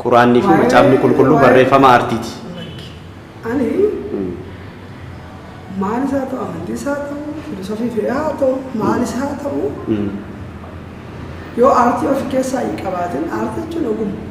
Quraanni fi macaafni qulqulluu barreeffama artiiti. Ani maal isaa ta'u amantii isaa ta'u filosofii fedhaa haa ta'u maal isaa haa ta'u yoo aartii of keessaa hin qabaatin aartii jechuun ogummaa.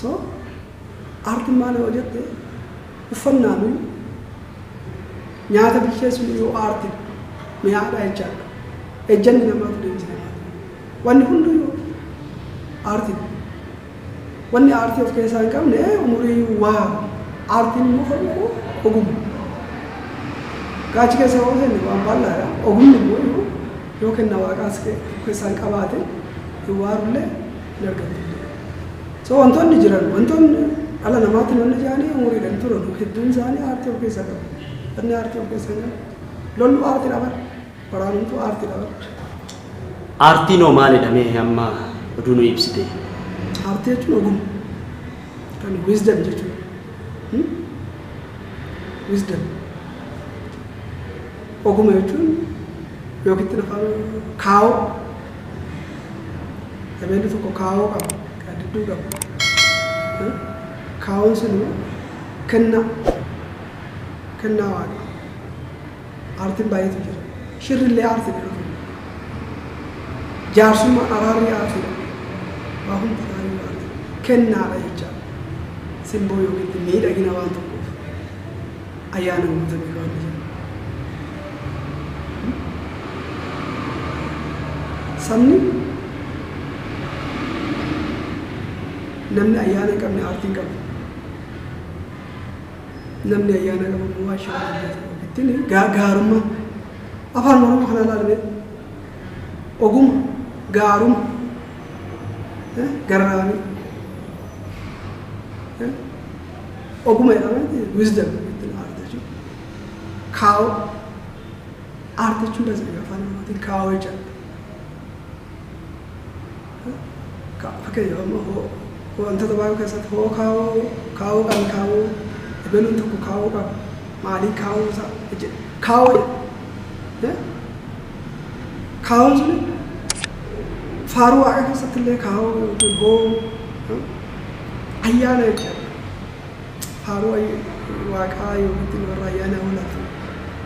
So aartiin maal yoo jette uffannaanuyyuu nyaata bilcheessuunuyyuu aartiidha. Mi'aadha jechaadha. Ejjanni namaatu deemsa namaati. Wanni hunduyyuu aartiidha. Wanni aartii of keessaa hin qabne umuriiyyuu waa aartiin immoo kan dhufu oguma. Gaa achi keessa yoo seenne waan bal'aadha. Ogumni immoo yoo kenna waaqaas of keessaa hin qabaatin hin waarullee hin argamtu hin jedhan. So wantoonni jiran wantoonni dhala namaatiin wanni jaanii umuriidhaan turan hedduun isaanii aartii of keessaa qabu. Wanni aartii of keessaa hin qabu. Lollu aartii dhaban. Waraanumtuu aartii dhaban. Aartiin hoo maalidha mee amma oduu nu ibsite? Aartii jechuun ogummaa. Kan wisdom jechuudha. Hmm? Wisdom. Oguma jechuun yookitti afaan kaawoo Emelli tokko kaawoo qaba, qaddidduu qaba. Eh? Kaawoon sun immoo kennaa, kennaa waaqa. Aartiin baay'eetu jira. Shirri illee aartiidha yeroo tokko. Jaarsummaan araarri aartiidha. Waa hundi isaanii aartiidha. Kennaadha jecha. Simboo yookiin miidhagina waan tokkoof. Ayaa namoota biroo hin jennu. Sabni namni ayyaana hin qabne aartii hin qabu. Namni ayyaana qabu immoo waan shira hojjetu ittiin gaa- gaarummaa afaan oromoo kana ilaalamee oguma gaaruma eh, garraamii eh, Oguma jedhaman wisdom jechuun art jechuudha. Kaawoo art jechuun as biyya afaan oromootiin kaawoo jechaadha. Fakkeenyaaf amma hoo wantoota baay'ee keessatti hoo kaawoo kaawoo kan kaawoo ebeluun tokko kaawoo qaba maalii kaawoo isaa jechuudha. Kaawoo jedha. Kaawoon sun faaruu waaqa keessatti illee kaawoo yookiin hoo Ayyaana jechaan faaruu waaqaa yookiin warra ayyaanaa holaatu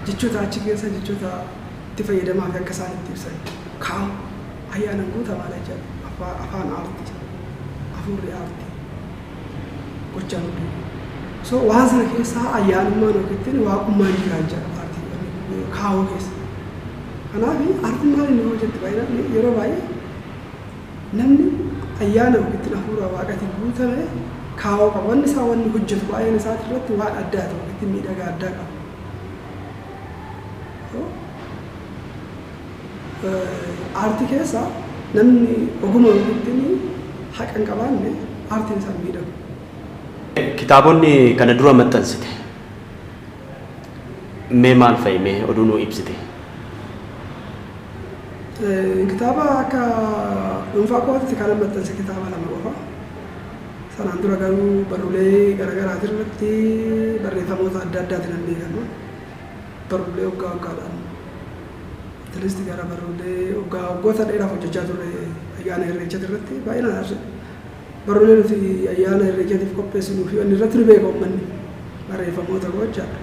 jechoota achi keessa jechoota itti fayyadamaa fi akka isaan itti ibsan kaa'u. Ayyaanan guutamaadha jechaan afaan aarti jira. Afuurri aarti gochaan hunduu. So waan sana keessaa ayyaanummaan yookiin waaqummaan jiraa jechaan aartii kaa'uu keessa. Kanaaf aartiin maal inni hojjetti baay'inaan yeroo baay'ee Namni ayyaana yookiin hafuura Waaqatiin guutame kaawoo qaba. Wanni isaa wanni hojjatu baay'een isaati irratti waan addaati yookiin miidhagaa addaa qaba. Aartii keessa namni oguma yookiin haqa hin qabaanne aartiin isaa hin miidhagu. Kitaabonni kana dura maxxansite. Mee maal fa'i mee oduu nuu ibsite. Kitaaba akka dhuunfaa kootti kanan maxxanse kitaaba lama qofa. Sanaan dura garuu barruulee garaagaraatiin irratti barreeffamoota adda addaatiin nan beekama. Barruulee waggaa waggaadhaan atleast gara barruulee waggaa waggoota dheeraaf hojjechaa turre ayyaana irreechaati irratti baay'inaan Barruulee nuti Ayyaana Irreechaatiif qopheessinuu fi wanni irratti nu beeka ummanni barreeffamoota gochaadha.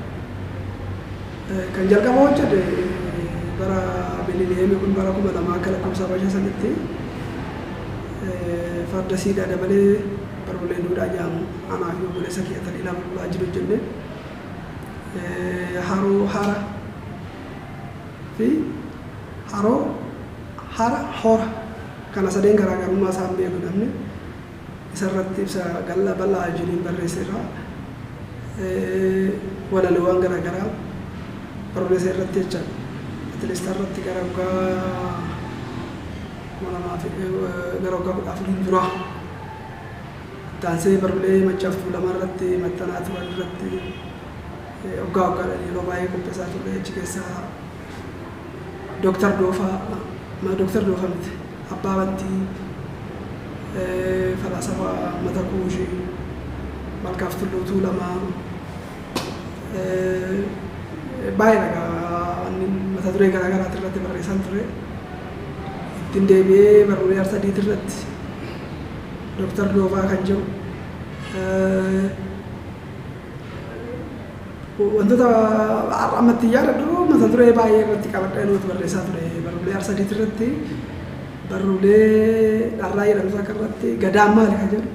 Kan jalqaba hojjete bara Miliniyeemii kun bara kuma lamaa akka lakkoofsa Habashaa sanitti farda siidaa dabalee barruulee duudhaa jedhamu anaa fi obboleessa kiyya Taliilaa Bulbulaa wajjin hojjenne. Haroo hara fi haroo hara hora Kana sadeen garaagarummaa isaa hin beeku namni. Isa irratti ibsa gal'aa bal'aa Eugeniin barreesseera. Walaloowwan garaagaraa barreessa irratti jecha atileestaa irratti gara waggaa kuma lamaa fi gara waggaa kudha afuriin dura taansee barruulee maccaaf tuulamaa irratti maxxanaa turan irratti waggaa waggaadhaan yeroo baay'ee qopheessaa turre achi keessaa Doktar Doofaa ma Doktar Doofa miti Abbaa Battii Falaasafaa Ummata Kuushi Malkaaf Tulluu Tuulamaa baay'ee dhagaa wanni mata duree garaa garaati irratti barreessan ture ittiin deebi'ee barruulee arsadiiti irratti Doktar Doofaa kan jiru Wantoota har'a amma itti yaadadhu mata duree baay'ee irratti qabadhee nuti barreessaa ture barruulee Arsadii irratti barruulee dharraa jedhamu takka irratti gadaan maali kan jedhu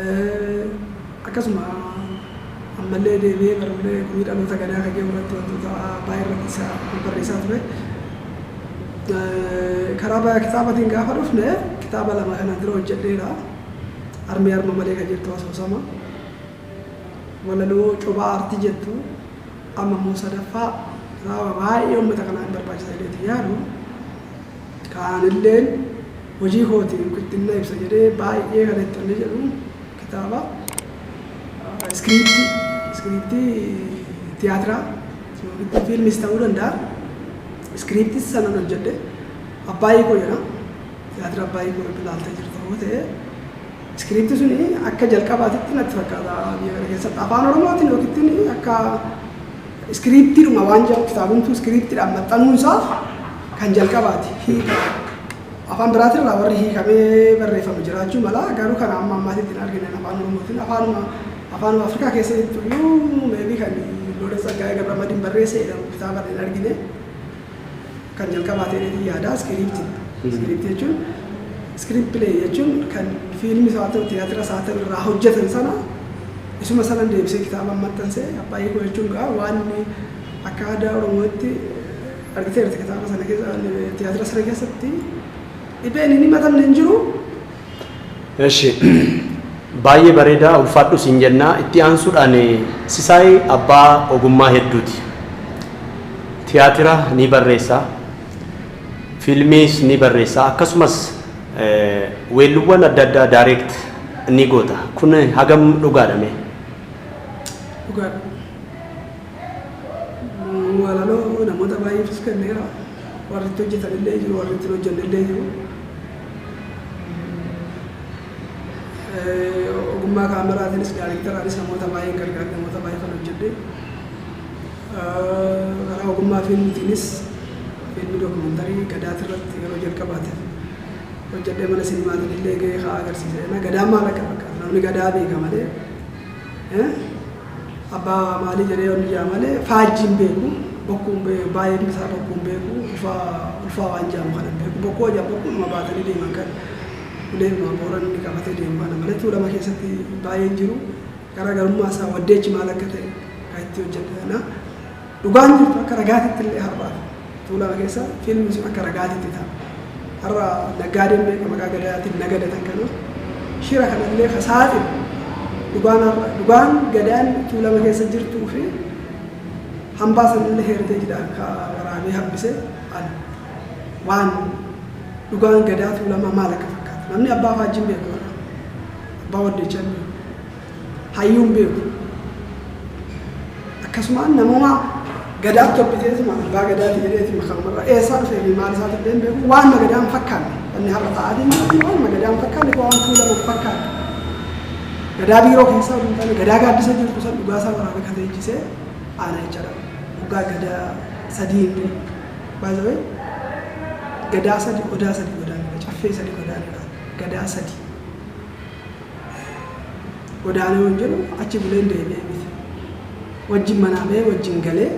Eh, akkasuma ammallee deebi'ee barruulee gumii dhaloota gadaa kan jedhu irratti wantoota baay'ee irratti isa barreessaa ture. Eh, Karaa baay'ee kitaabatiin gaafa dhufne kitaaba lama kana dura hojjedheera. Armee arma malee kan jirtu asoosama. Walaloo cophaa artii jettu amma immoo sadaffaa raawwa baay'ee uummata kanaa hin barbaachisa jedheetiin yaadu ka an illeen hojii kootiin yookiin na ibsa jedhee baay'ee kan itti onne jedhu kitaaba iskiriiptii iskiriiptii tiyaatiraa yookiin fiilmis ta'uu danda'a iskiriiptii sanan hojjedhe abbaa hiikoo jedha tiyaatira abbaa hiikoo ilaaltee jirta yoo ta'e Script sun akka jalqabaatitti natti fakkaata biyya kana keessatti afaan oromootiin yookiin akka iskiriiptiidhuma waan jedhu kitaabumtuu iskiriiptiidhaan maxxanuun isaa kan jalqabaati hiika afaan biraatirraa warri hiikamee barreeffame jiraachuu mala garuu kana amma ammaatitti hin argine afaan oromootiin afaanuma afaanuma afrikaa keessatti iyyuu meebii kan loola tsaggaa'ee gabramadiin barreesse jedhamu kitaaba hin argine. kan jalqabaa ta'eetiin yaada iskiriipti. Iskiriipti jechuun iskiriipti pilee jechuun kan fiilmis haa ta'u tiyaatiras haa ta'u irraa hojjetan sana isuma sana deebisee kitaaba maxxanse abbaa hiikoo jechuun gaa waan akka aadaa oromootti argiteerti kitaaba sana keessa tiyaatira sana keessatti dhibeen hin himatamne hin jiru. Eshi baay'ee bareeda ulfaadhu siin jenna itti aansuudhaan Sisaay abbaa ogummaa hedduuti tiyaatira ni barreessa fiilmiis ni barreessa akkasumas weelluwwan adda addaa direct ni goota kun hagam dhugaadha mee? Dhugaadha. Walaloo namoota baay'eefis kenneera. Warri itti hojjetanillee jiru, warri itti hin hojjennellee jiru. Ogummaa kaameraatiinis daayreektaraanis namoota baay'een gargaare, namoota baay'ee kan hojjedhe. Karaa ogummaa fiilmiitiinis fiilmii dookumantarii Gadaati irratti yeroo jalqabaatiif hojjedhee mana sinimaatiin illee gahee haa agarsiise. Gadaan maal akka fakkaatu namni Gadaa beeka malee Abba maalii jedhee yoon iyyaa malee faajjii hin beeku. Bokkuu baay'een isaa bokkuu hin beeku. Ulfaa ulfaa waan jaamu kana hin beeku. Bokkuu hojaa bokkuuma baatanii deeman kan uleema booranni qabatee deemu kana malee tuulama keessatti baay'een jiru. Garaagarummaa isaa waddeechi maal akka ta'e kan itti hojjete kana. Dhugaan jirtu akka ragaatittillee har'a Tuulama keessa fiilmi sun akka ragaatitti ta'a. Har'a naggaadeen meeqa maqaa Gadaatiin nagadatan kana shira kanallee ka saaxilu dhugaan har'a dhugaan Gadaan Tuulama keessa jirtuu fi hambaa sanillee heeriteejidhaan ka waraabee hambise ani. Waan dhugaan Gadaa Tuulamaa maal akka fakkaatu namni Abbaa Faajjii hin beeku har'a. Abbaa Waddeechaa hin beeku. Hayyuun beeku. Akkasumaan namuma gadaatti hobbiteetuma abbaa gadaati jedheetuma kanumarra eessaa dhufee fi maal isaati illee hin beeku waan magadaan fakkaanne wanni har'a ta'aa deemu kun waan magadaan fakkaanne kun waan tuulama hin fakkaanne. Gadaa biiroo keessaa osoo hin taane gadaa gaaddisa jirtu san dhugaa isaa waraabee kan leenjisee aanaa jecha dha. Dhugaa gadaa sadii hin jiru. By the way, gadaa sadi odaa sadi godaan dha. Caffee sadi godaan dha. Gadaa sadi. Godaanee yoon jedhu achi buleen deebi'e miti. Wajjin manaa ba'ee wajjin galee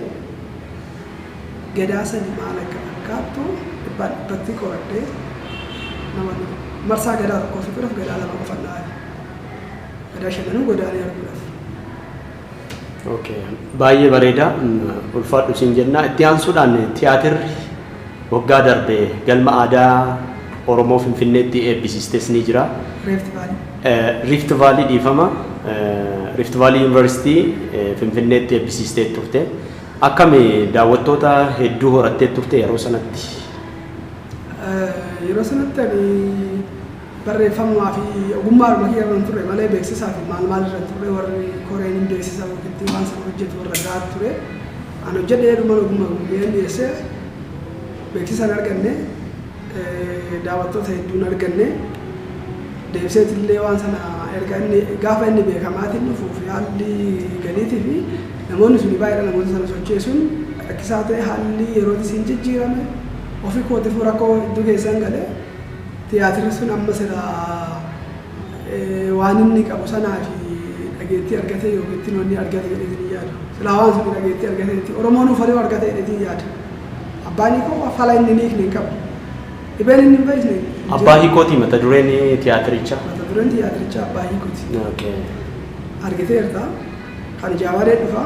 Gadaa sadii maal akka fakkaattu dhibbaan dhibbatti qoradhee nama dhufu. Marsaa Gadaa tokkoo fixuudhaaf Gadaa lama qofan dhahabe. Gadaa shananuu Godaanee arguudhaaf. Okay. Baay'ee bareeda ulfaadhu siin jenna. Itti aansuudhaan tiyaatirri waggaa darbe galma aadaa Oromoo Finfinneetti eebbisiistes ni jira. Rift Valley. Rift Valley dhiifama. Rift Valley Yuunivarsiitii Finfinneetti eebbisiistee turte. Akkami daawwattoota hedduu horattee turte yeroo sanatti? Yeroo sanatti ani Barreeffamumaa fi ogummaadhuma kiyya irran ture malee beeksisaa fi maal maal irran turre warri koreen hin beeksisa yookitti waan sana hojjetu irra gaad ture an hojjedhe jedhuman ogumma gummeen dhiyeesse beeksisa hin arganne daawattoota hedduu hin arganne deebiseetillee waan sana erga inni gaafa inni beekamaatiin dhufuuf haalli galiitii fi namoonni suni baay'eedha namoota sana socheessuun rakkisaa ta'e haalli yerootis hin jijjiirame ofi kootifuu rakkoo hedduu keessan gale Tiyaatirri sun amma silaa waan inni qabu sanaa fi dhageettii argatee yookiittiin wanni argate jedheetiin hin yaadu. Silaa waan sun dhageettii argatee itti Oromoon uffaluu argate jedheetiin hin yaadu. Abbaan Hiikoo fala inni hin hiikne hin qabu. Dhibeen inni hin fayyisne hin jiru. Abbaa Hiikooti mata dureen tiyaatirichaa? Mata dureen tiyaatirichaa Abbaa Hiikooti. Okay. Argiteerta. Kan jaawaree dhufa.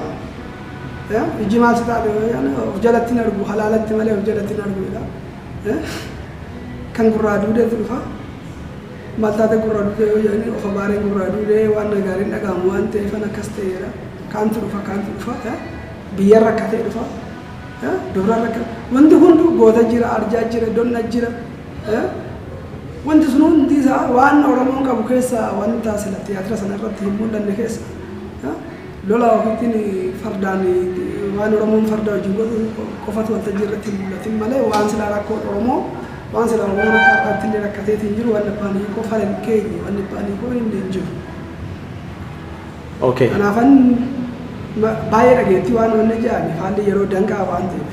Eh, Iji maal si taate yoo jedhan, of jalatti hin argu, halaalatti malee of jalatti hin argu jedha. Kan gurraa duudeetu dhufa. Maal taate gurra duudee yoo jedhanii of abaareen gurraa duudee waan na gaariin dhaga'amu waan ta'eefan akkas ta'eera. Kaantu dhufa kaantu dhufa. Biyyaan rakkatee dhufa. Dubra rakkate. Wanti hunduu goota jira, arjaa jira, donna jira. Wanti sun hundi isaa waan Oromoon qabu keessaa wanta sila tiyaatira sana irratti hin mul'anne keessa. Lola ofiitiin fardaan waan Oromoon farda wajjin godhu qofatu waltajjii irratti hin mul'atin malee waan silaa rakkoon Oromoo waan silaa Oromoon akka har'aatti illee rakkateeti hin jiru waan abbaan hiikoo fala hin keenye waan abbaan hiikoo hin himne hin jiru. Okay. Kanaafan ma- baay'ee dhageettii waan wanna jedhame haalli yeroo danqaa waan ta'eef.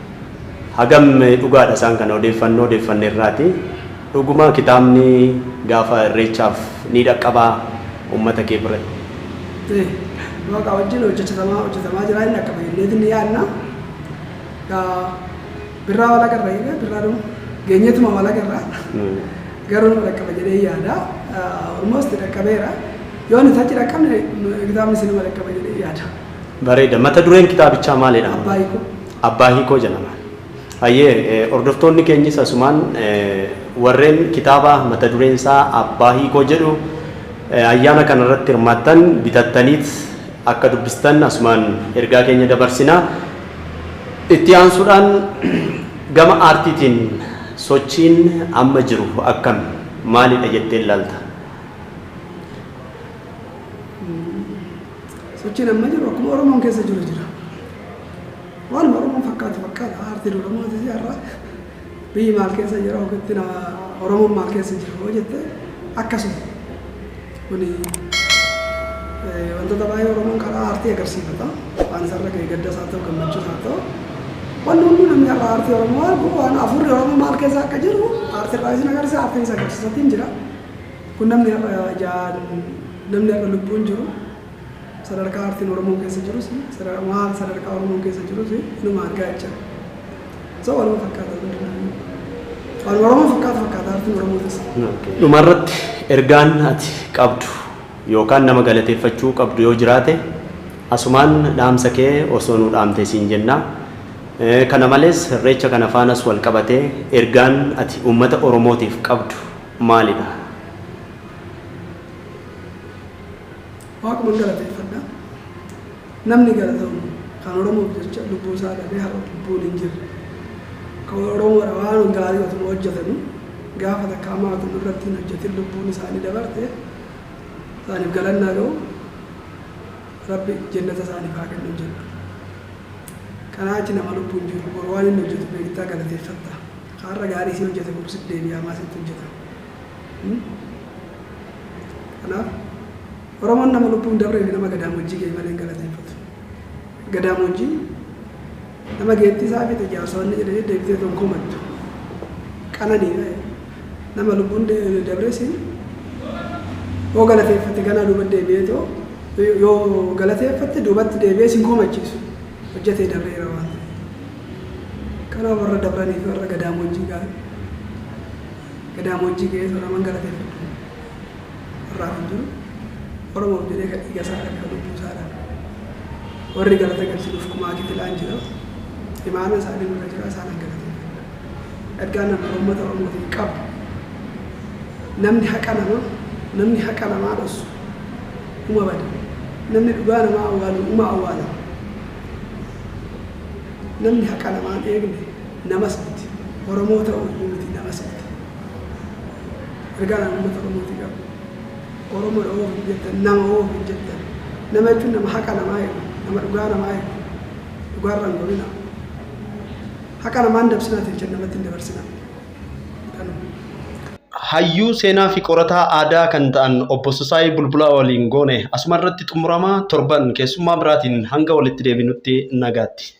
Hagam dhugaadha isaan kana odeeffannoo odeeffanne irraati. Dhuguma kitaabni gaafa irreechaaf ni dhaqqabaa ummata kee biratti? Ee, waaqaa wajjin hojjechatamaa hojjetamaa jiraa hin dhaqqaba jenneeti ni yaadna. Gaa birraa wal agarra jennee birraa nu geenyeetuma wal agarra. Garuu nu dhaqqaba jedhee yaada. Almost dhaqqabeera. Yoo nuti achi dhaqqabne kitaabni sinuma dhaqqaba jedhee yaada. Bareeda. Mata dureen kitaabichaa maalidha? Abbaa Hiikoo. Abbaa Hiikoo jedhama. Hayyee, hordoftoonni keenyis asumaan warreen kitaaba mata dureen isaa Abbaa Hiikoo jedhu ayyaana kana irratti hirmaattan bitattaniit akka dubbistan asumaan ergaa keenya dabarsina. Itti aansuudhaan gama aartiitiin sochiin amma jiru akkami? Maalidha jettee ilaalta? Sochiin amma jiru akkuma Oromoon keessa jiru jira. Waanuma Oromoon fakkaatu fakkaata. Aartiin Oromootis har'a biyyi maal keessa jira yookiin Oromoon maal keessa jira yoo jette akkasuma. Kuni wantoota baay'ee Oromoon karaa aartii agarsiifata. Waan isarra ga'e gaddas haa ta'u gammachuus haa ta'u. Wanni hundi namni har'a aartii Oromoo argu waan hafuurri Oromoo maal keessa akka jiru aartiirraa isin agarsiisa aartiin isa agarsiisatiin jira. Kun namni har'a ijaan, namni har'a lubbuun jiru, sadarkaa aartiin Oromoo keessa jirus, maal sadarkaa Oromoon keessa jirus inuma argaa jecha. So waanuma fakkaata hundinuu. Waanuma Oromoon fakkaatu fakkaata aartiin Oromootis. Dhumarratti ergaan ati qabdu yookaan nama galateeffachuu qabdu yoo jiraate asumaan dhaamsa kee osoo nuu dhaamtee siin jenna. Kana malees Irreecha kana faanas wal qabatee ergaan ati uummata Oromootiif qabdu maali dha? Waaquman galateeffadha. Namni galatoomu kan Oromoof jecha lubbuu isaa dhabee har'a lubbuun hin jirre. Kan Oromoodha waan gaarii otuma hojjetanu gaafa takka hamaa utuu nurratti hin hojjetin lubbuun isaanii dabarte isaaniif galanni haa ga'u. Rabbi jennata isaaniif haa kennu jenna. Kanaa achi nama lubbuun jiru boru waan inni hojjetu beektaa galateeffatta. Har'a gaarii si hojjate boru sitti deebi'ee hamaa sitti hojjata. Kanaaf Oromoon nama lubbuun dabree fi nama gadaamoojjii ga'e malee hin galateeffatu. Gadaamoojjiin nama geettii isaa fixe jaarsa wanni jedhe jedhe deebitee toon komattu. Qananiidha jedhe. Nama lubbuun de- dabree siin yoo galateeffatte ganaa duuba deebi'ee too yoo galateeffatte duubatti deebi'ee siin komachiisu hojjatee dabreera waan ta'eef. Kanaa warra dabraniif warra gadaamoojjii ga'an gadaamoojjii ga'ee soraman galateeffadhu. Har'aa fi dur Oromoof jedhee ka dhiiga isaa dhabe ka lubbuu isaa dhabe. Warri galata galchinuuf kumaa kitilaan jira. Imaanaa isaanii nurra jira isaanan galateeffadha. Ergaan an Ummata Oromootiif qabu namni haqa nama namni haqa namaa dhossu uma bada. Namni dhugaa namaa awwaalu uma awwaalama. Namni haqa namaa hin eegne namas miti. Oromoo ta'uu iyyuu miti namas miti. Ergaan ani uummata Oromootii qabu Oromoodha hoo ofiin jettan nama hoo ofiin jettan nama jechuun nama haqa namaa eegu nama dhugaa namaa eegu dhugaarra hin gorinaa. Haqa namaa hin dabsinaa tinchan namatti hin dabarsinaa. Hayyuu seenaafi qorataa aadaa kan ta'an Obbo Sisaay Bulbulaa waliin goone asumarratti xumurama. Torban keessummaa biraatiin hanga walitti deebinutti nagaatti.